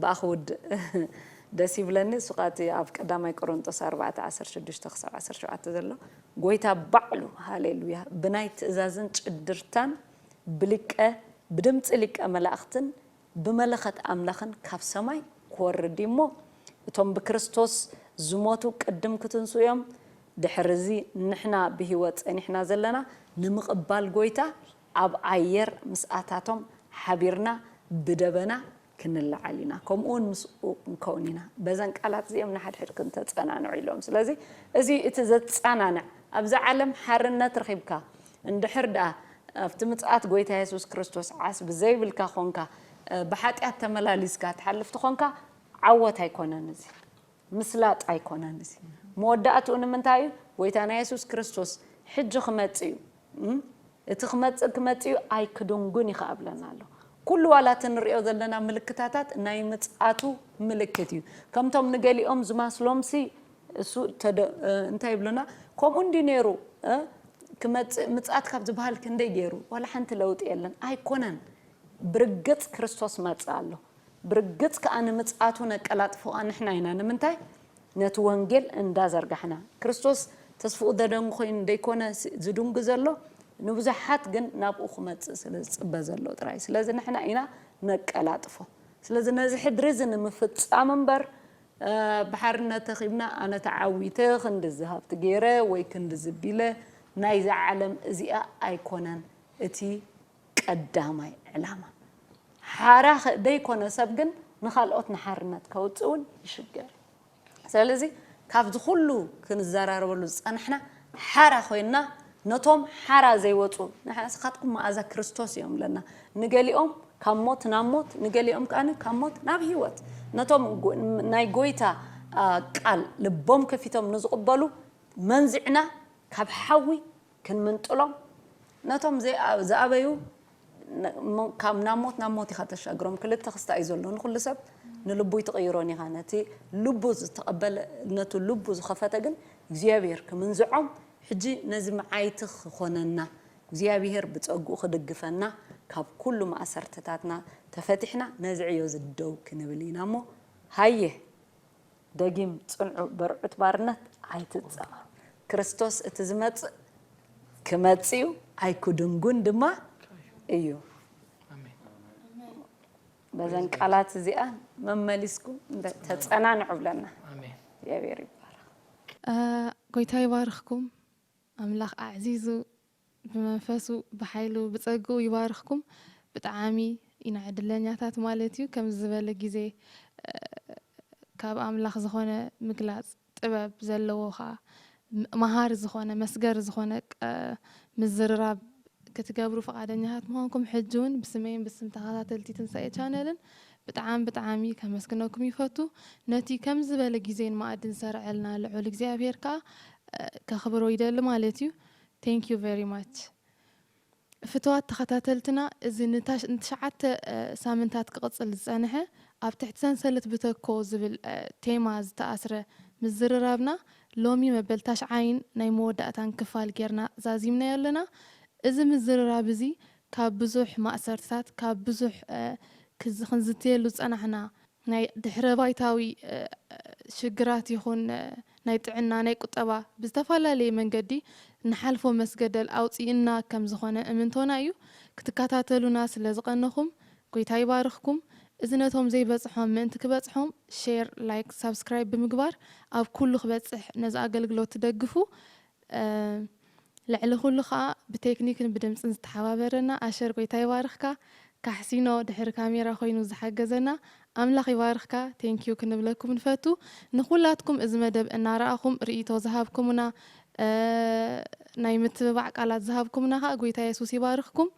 ብኣ ክውድእ ደስ ይብለኒ እሱ ከኣ እቲ ኣብ ቀዳማይ ቆሮንጦስ ኣርባዕተ ዓሰርተ ሽዱሽተ ክሳብ ዓሰርተ ሸውዓተ ዘሎ ጎይታ ባዕሉ ሃሌሉያ ብናይ ትእዛዝን ጭድርታን ብሊቀ ብድምጺ ሊቀ መላእኽትን ብመለኸት ኣምላኽን ካብ ሰማይ ክወርድ እዩ እሞ፣ እቶም ብክርስቶስ ዝሞቱ ቅድም ክትንስኡ እዮም፣ ድሕሪ እዚ ንሕና ብህይወት ጸኒሕና ዘለና ንምቕባል ጐይታ ኣብ ኣየር ምስኣታቶም ሓቢርና ብደበና ክንለዓል ኢና፣ ከምኡውን ምስኡ ክንከውን ኢና። በዘን ቃላት እዚኦም ንሓድሕድክን ተጸናንዑ ኢሎም። ስለዚ እዚ እዩ እቲ ዘጸናንዕ። ኣብዚ ዓለም ሓርነት ረኺብካ እንድሕር ደኣ ኣብቲ ምጽኣት ጐይታ የሱስ ክርስቶስ ዓስቢ ዘይብልካ ዀንካ፣ ብሓጢኣት ተመላሊስካ ትሓልፍ ተዀንካ፣ ዓወት ኣይኰነን እዚ። ምስላጥ ኣይኰነን እዚ። መወዳእትኡ ንምንታይ እዩ? ጐይታና የሱስ ክርስቶስ ሕጂ ክመጽእ እዩ። እቲ ክመጽእ ክመጽእ እዩ፣ ኣይክድንጕን እዩ ኸኣ እብለና ኣሎ። ኵሉ ዋላ እቲ ንርእዮ ዘለና ምልክታታት ናይ ምጽኣቱ ምልክት እዩ። ከምቶም ንገሊኦም ዝማስሎምሲ፣ እሱ ተደ እንታይ ይብሉና ከምኡ እንድዩ ነይሩ እ ክመጽእ ምጽኣት ካብ ዝበሃል ክንደይ ገይሩ ዋላ ሓንቲ ለውጢ የለን ኣይኮነን ብርግጽ ክርስቶስ መጸ ኣሎ ብርግጽ ከኣ ንምጽኣቱ ነቀላጥፎ ከኣ ንሕና ኢና ንምንታይ ነቲ ወንጌል እንዳ ዘርጋሕና ክርስቶስ ተስፍኡ ዘደንጉ ኮይኑ ደይኮነ ዝድንጉ ዘሎ ንብዙሓት ግን ናብኡ ክመጽእ ስለ ዝጽበ ዘሎ ጥራይ ስለዚ ንሕና ኢና ነቀላጥፎ ስለዚ ነዚ ሕድሪ እዚ ንምፍጻም እምበር ብሓርነት ተኺብና ኣነ ተዓዊተ ክንድዚ ሃብቲ ገይረ ወይ ክንድዚ ቢለ ናይዛ ዓለም እዚኣ ኣይኮነን እቲ ቀዳማይ ዕላማ። ሓራ ደይኮነ ሰብ ግን ንካልኦት ንሓርነት ከውጽእ ውን ይሽገር እዩ። ሰለዚ ካብዚ ኩሉ ክንዘራረበሉ ዝጸናሕና ሓራ ኮይንና ነቶም ሓራ ዘይወጹ፣ ንስኻትኩም መኣዛ ክርስቶስ እዮም እብለና። ንገሊኦም ካብ ሞት ናብ ሞት፣ ንገሊኦም ከኣ ካብ ሞት ናብ ህይወት። ነቶም ናይ ጐይታ ቃል ልቦም ከፊቶም ንዝቕበሉ መንዚዕና ካብ ሓዊ ክንምንጥሎም፣ ነቶም ዝኣበዩ ካብ ናብ ሞት ናብ ሞት ኢኻ ተሻግሮም ክልተ ክስታ እዩ ዘሎ ንኹሉ ሰብ ንልቡይ ትቕይሮን ኢኻ ነቲ ልቡ ዝተቐበለ ነቱ ልቡ ዝኸፈተ ግን እግዚኣብሔር ክምንዝዖም ሕጂ ነዚ መዓይቲ ክኾነና እግዚኣብሔር ብጸግኡ ክድግፈና ካብ ኩሉ ማእሰርትታትና ተፈቲሕና ነዚ ዕዮ እዚ ደው ክንብል ኢና እሞ ሃየ ደጊም ጽንዑ በርዑት ባርነት ኣይትጸበሩ ክርስቶስ እቲ ዝመጽእ ክመጽእዩ ኣይኩድንጉን ድማ እዩ በዘን ቃላት እዚኣ መመሊስኩም ተጸናንዑ ብለና እግዚኣብሔር ይባረክ። ጎይታ ይባርኽኩም ኣምላኽ ኣዕዚዙ ብመንፈሱ ብሓይሉ ብጸግኡ ይባርኽኩም። ብጣዓሚ ኢና ዕድለኛታት ማለት እዩ ከምዚ ዝበለ ግዜ ካብ ኣምላኽ ዝኾነ ምግላጽ ጥበብ ዘለዎ ከኣ መሃሪ ዝኾነ መስገሪ ዝኾነ ምዝርራብ ክትገብሩ ፍቃደኛታት ምዃንኩም ሕጂ ውን ብስመይን ብስም ተኻታተልቲ ትንሳኤ ቻነልን ብጣዓሚ ብጣዓሚ ከመስግነኩም ይፈቱ ነቲ ከምዚ ዝበለ ግዜን መኣድን ዝሰርዐልና ልዑል እግዚኣብሄር ከኣ ከኽብሮ ይደሊ ማለት እዩ። Thank you very much ፍትዋት ተኸታተልትና እዚ ንትሽዓተ ሳምንታት ክቕጽል ዝጸንሐ ኣብ ትሕቲ ሰንሰለት ብተኮ ዝብል ቴማ ዝተኣስረ ምዝርራብና ሎሚ መበል ታሽዓይን ናይ መወዳእታን ክፋል ጌርና ዛዚምናዮ ኣለና እዚ ምዝርራብ እዚ ካብ ብዙሕ ማእሰርትታት ካብ ብዙሕ ክንዝትየሉ ዝጸናሕና ናይ ድሕረባይታዊ ሽግራት ይኹን ናይ ጥዕና፣ ናይ ቁጠባ ብዝተፈላለየ መንገዲ ንሓልፎ መስገደል ኣውጺኡና ከም ዝኾነ እምንቶና እዩ። ክትካታተሉና ስለ ዝቐነኹም ጎይታ ይባርኽኩም። እዚ ነቶም ዘይበጽሖም ምእንቲ ክበጽሖም ሼር፣ ላይክ፣ ሳብስክራይብ ብምግባር ኣብ ኩሉ ክበጽሕ ነዚ ኣገልግሎት ትደግፉ ልዕሊ ኩሉ ከኣ ብቴክኒክን ብድምጽን ዝተሓባበረና ኣሸር ጎይታ ይባርኽካ ካሕሲኖ ድሕሪ ካሜራ ኮይኑ ዝሓገዘና ኣምላኽ ይባርኽካ Thank you ክንብለኩም ንፈቱ ንኩላትኩም እዚ መደብ እናረኣኹም ርኢቶ ዝሃብኩምና ናይ ምትብባዕ ቃላት ዝሃብኩምና ከኣ ጎይታ የሱስ ይባርኽኩም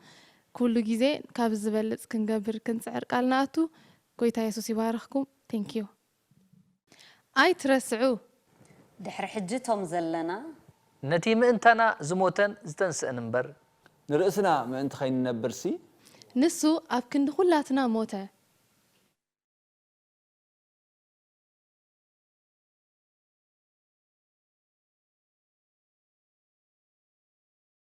ኩሉ ግዜ ካብዚ ዝበልጽ ክንገብር ክንጽዕር ቃል ንኣቱ ጎይታ የሱስ ይባርኽኩም Thank you። ኣይትረስዑ ድሕሪ ሕጂ ቶም ዘለና። ነቲ ምእንታና ዝሞተን ዝተንስእን እምበር። ንርእስና ምእንቲ ከይንነብርሲ። ንሱ ኣብ ክንዲ ኵላትና ሞተ።